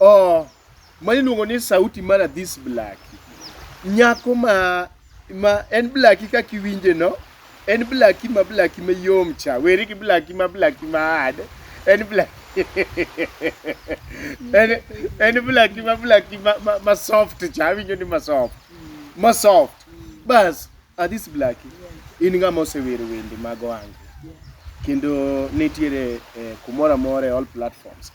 Oh, ma iluongo ni sauti mara this blaki. Nyako ma ma en blaki ka kiwinje no, en blaki ma blaki ma yom cha. Weri gi blaki ma blaki ma hard. En blaki en en blaki ma blaki ma, ma, ma soft cha. Awinjo ni ma soft. Ma soft. Bas, ah, this blaki. In ng'ama osewero wende mag ohange. kendo nitiere eh, kumoro amora e all platforms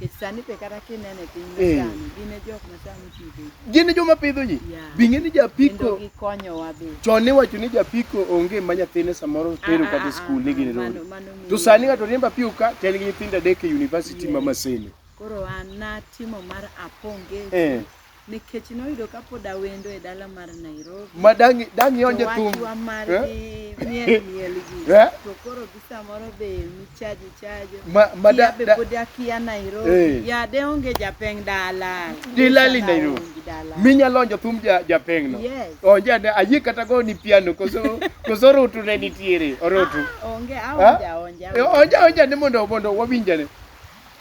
Nikech sani pe kata kineno e piny Eh. masani, gin e jok ma sani pidho ji. gin e joma pidho ji Yeah. bing'e ni Kendo japiko gikonyowa be. chon niwacho ni japiko onge ma nyathine samoro tero Ah, ah, kata ah, skul ni ah, gin mano- rori mano ng'eyo. to sani ng'ato riembo apiko ka to en gi nyithindo adek e university ma Yes. masene Koro an natimo mar aponge Eh. nikech noyudo ka pod awendo e dala mar Nairobi. Ma dangi dangi onje thum. Wachwa mar eh? gi miel miel gi. Eh? To koro gi samoro be mi chaji chaji. Ma ma da be pod akia Nairobi. Eh. Ya de onge japeng dala. Dilali Nairobi. Minya lonjo thum ja japeng no. Yes. Onje ade ayi kata go ni piano koso koso rutu ne nitiere orotu. Ah, onge aonja onja. Onja onja ni mondo mondo wawinjane.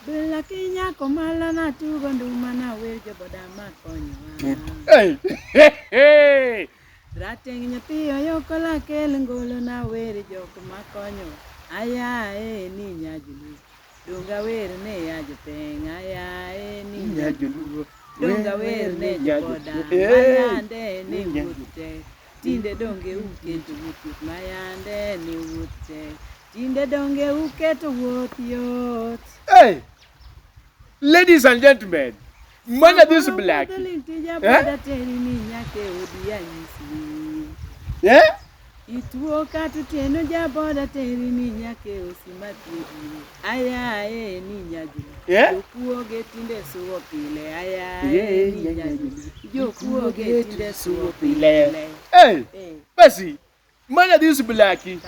Bila kinyako mala na tugo nduma na wer joboda ma konyowa. Rateng' nyathi oyoko lakel ngolo na wer jok ma konyowa. Aya e ni nyajulu. Donga wer ne ya jopeng aya e ni nyajulu. Donga wer ne joboda mayande ne wuoth tek. Tinde donge uketo wuoth mayande ne wuoth tek. Tinde donge uketo wuoth yot. Hey! Ladies and gentlemen, man of this black. Eh? Eh? Ituo kata tieno jaboda teri ni nyake osimathiedie ayaye ni nyajuna eh? jokuoge tinde suwo pile ayaye ni nyajuna jokuoge tinde suwo pile. Hey, Bessie. Mana this blaki.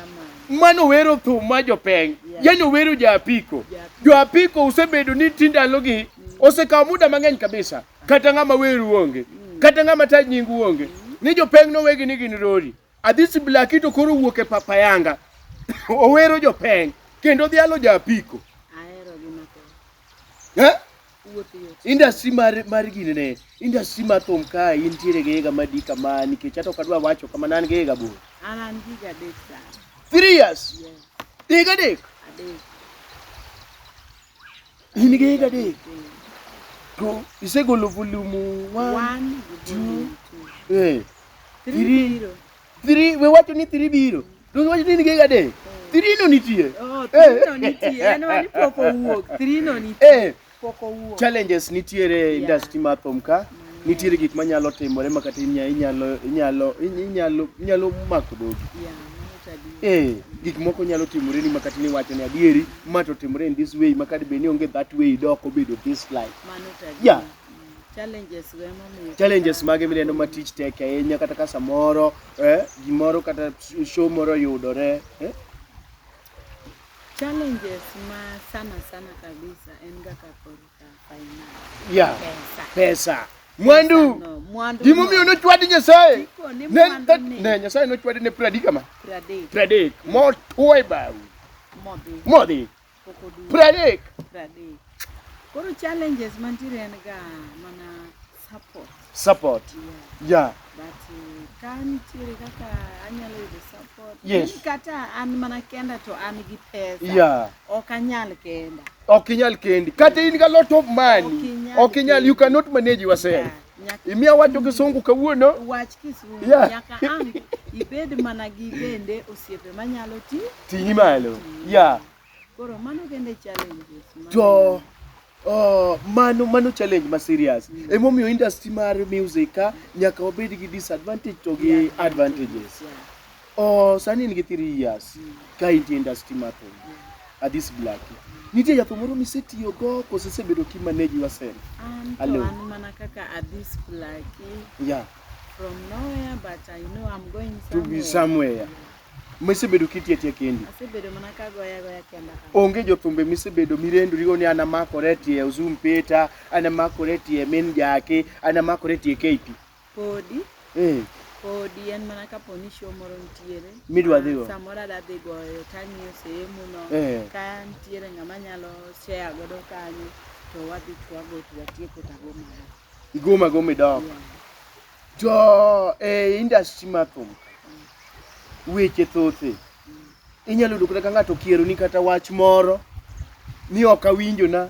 Mano wero thum ma jopeng. Yeah. Yaani wero ja apiko. Yeah. Jo apiko usebedo ni tindalogi osekawo muda mang'eny kabisa. Kata ng'ama weru onge. Mm. Kata ng'ama ta nyingu onge. Mm. Ni jopeng no wegi ni gin rori. Adhisi blaki to koro wuok e papa yanga. Owero jopeng kendo dhialo ja apiko. Ahero gi mathoth. Eh? industry mar mar gini ne industry mar thum ka intiere gi higa madi kama nikech ato kadwa wacho kama nan gi higa bor an an gi higa adek sana three years yes. higa adek adek in gi higa adek to isegolo volume one, one two, two. Eh, three, three. Three, we wacho ni three biro. To we wacho ni nigi adek. Three no nitie. Oh, eh. three no nitie. En wani pok owuok. Three no nitie. Eh. Pok owuok. Challenges nitiere yeah. industry mar thum ka. Nitiere gik manyalo timore ma kata inyalo inyalo inyalo inyalo inyalo mako dogi. Yeah. Eh, gik moko nyalo timore ni makati ni wacho ni adieri ma to timore in this way makati be ni onge that way dok obedo this life. Mano tadi. Yeah. Challenges go emomiyo. challenges mage mineno ma tich tek ahinya kata ka samoro eh, gimoro kata show moro yudore eh? Challenges ma sana sana kabisa en ga ka korka finance. yeah. Pesa. pesa mwandu No, mwandu. gimomiyo no. nochwadi nyasaye Tipo ni Ne- mwandu that- ni ne nyasaye nochwadi ne pradi kama pradek pradek motwo e bawi modhi. modhi pok oduogo. Pradek. Pradek. Koro challenges mantiere en ga mana support. Support. Yeah. yeah. But uh, ka nitiere kaka anyalo yudo support. Yes. Ni kata an mana kenda to an gi pesa. Yeah. Ok anyal kenda. Ok inyal kendi. Kata in ga lot of money. Ok inyal. You cannot manage yourself. Yeah. Nyaka Imiya wacho kisungu kawuono. wach kisungu Yeah. nyaka ang' ibed mana gi bende osiepe manyalo ti Ting'i malo. Yeah. koro mano kende challenges ma- To oh, mano mano challenge ma serious. Mm. Emomiyo industry mar music ka nyaka wabed gi disadvantage to gi Yeah. advantages. Yeah. Oh, sani in gi 3 years ka intie industry mar thum. At this black. Nitie jatho moro misetiyo go kose sebedo ki manage yourself. An to Hello. an mana kaka at this Blackie Yeah, from nowhere but I know I'm going to be somewhere. somewhere. Misebedo kitiyo tiyo kendi. Asebedo mana kagoya goya kenda ka. Onge jothumbe misebedo mirendorigo ni an amakore tie Uzum Peter, an amakore tie Min Jaki, an amakore tie KP. Podi. Eh. Podi en mana kapo ni show moro nitiere. Midwa dhigo. Ah, samoro adwa dhi goyo tang'iyo sehemu no. Eh. Ka nitiere ng'ama nyalo share godo kanyo to wadhi twago to watieko tago mara. Igoma goma idok. Yeah. To e eh, industry mar thum mm. weche thothe mm. inyalo yudo kata ka ng'ato okieroni kata wach moro ni ok awinjona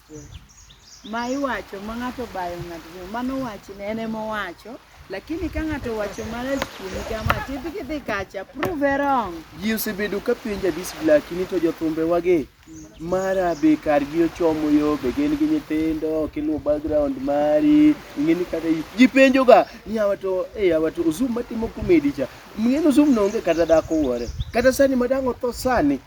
Ma iwacho ma ng'ato bayo ng'ato, mano wachne en ema owacho. Lakini ka ng'ato owacho marach kuomi kama, tidhi kidhi kacha, prove her wrong. Ji osebedo ka penja this black ni to jothumbe wage mara be kargi ochomo yo be gin gi nyithindo ok iluw background mari ing'e ni kata i- ji penjoga ni awa to e awa to ozum matimo komedi cha mng'eni ozum no onge kata dhako wuore kata sani madang' otho sani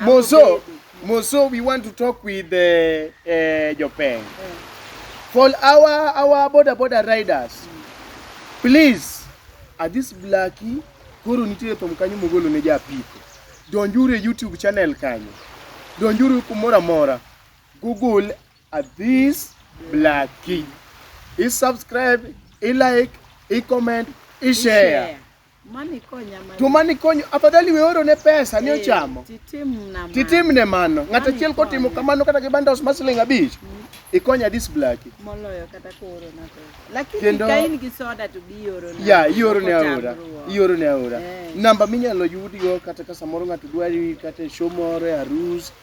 Moso, Moso, we want to talk with uh, uh, Jopeng. For our our border border riders, please, at this blackie, koro nitie thum kanyo mogolo ne japiko. Donjuru e YouTube channel kanyo. Donjuru kumora mora. Google at this blackie. I subscribe, I like, I comment, I share. Mani konya mani. To mani konyo, afadhali we oro ne pesa ni ochamo. Eh, titim na mano. Titim ne mano. Ng'at achiel kotimo kamano kata gi bandos ma siling abich. Mm. Ikonya dis blaki. Moloyo kata ko oro na pesa. Lakini Kendo, ka in gi soda to bi oro na. Ya, ioro ne aora. Ioro ne aora. Eh. Namba minyalo yudigo kata ka samoro ng'ato dwari kata e show moro e arus.